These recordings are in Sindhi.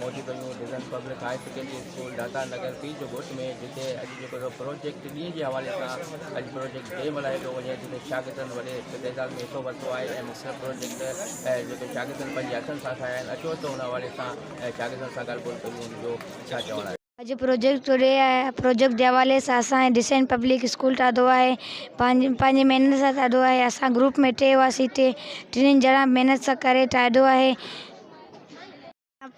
موجوده new vision public high secondary school Data Nagar P جو گهوٽ ۾ جتي اڄ جيڪو پروجيڪٽ ڏينهن جي حوالي سان اڄ پروجيڪٽ ڊي ملهايو پيو وڃي جتي شاگردن وڏي تعداد ۾ حصو ورتو آهي ۽ مختلف پروجيڪٽ جيڪي شاگردن پنهنجي هٿن سان ٺاهيا آهن اچو ته ان حوالي سان شاگردن سان ڳالهه ٻولهه ڪريون جو ڇا چوڻ آهي اڄ پروجيڪٽ ٽوڊي پروجيڪٽ جي حوالي سان اسان جي ڊسائن پبلڪ اسڪول ٺاهيو آهي پنهنجي پنهنجي محنت سان ٺاهيو آهي اسان گروپ ۾ ٽي هئاسين ٽي ٽنهي ڄڻا محنت سان ڪري ٺاهيو آهي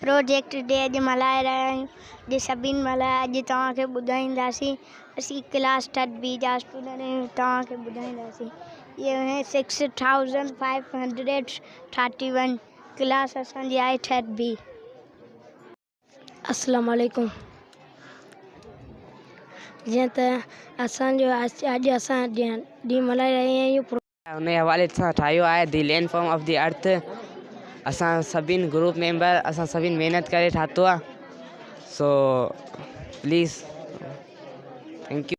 پروجيڪٽ ٽوڊي اڄ ملهائي رهيا آهيون اڄ سڀني ملهايو آهي اڄ توهان کي ٻڌائينداسين اسين ڪلاس ٿرڊ بي جا اسٽوڊنٽ آهيون توهان کي ٻڌائينداسين اهي six thousand five hundred thirty one class اسان جي آهي ٿرڊ بي اسلام عليڪم جيئن ته اسان جو اڄ اسان ڏينهن ملهائي رهيا آهيون ان جي حوالي سان ٺاهيو آهي the land form of the earth اسان سڀني گروپ ميمبر اسان سڀني محنت ڪري ٺاهيو آهي سو پليز ٿينڪ يو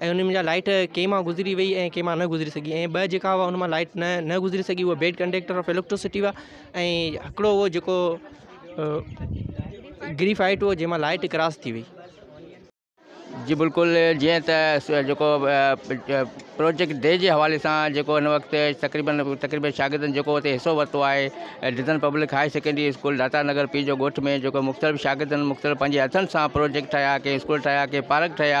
۽ ان منجهان لائيٽ ڪنهن مان گذري وئي ۽ ڪنهن مان نه گذري سگهي ۽ ٻه جيڪا هئا ان مان لائيٽ نه نه گذري سگهي هو بيڊ ڪنڊيڪٽر آف اليڪٽرسٽي هئا ۽ هڪڙو هو جيڪو گري فائيٽ هو جنهن مان لائيٽ ڪراس ٿي وئي جي بلڪل جيئن ته جيڪو پروجيڪٽ ڊي جي حوالي سان جيڪو هن وقت تقريبن تقريبن شاگردن جيڪو اتي حصو ورتو آهي dozen public high secondary school Data Nagar P جو ڳوٺ ۾ جيڪو مختلف شاگردن مختلف پنهنجي هٿن سان پروجيڪٽ ٺاهيا ڪي اسڪول ٺاهيا ڪي پارڪ ٺاهيا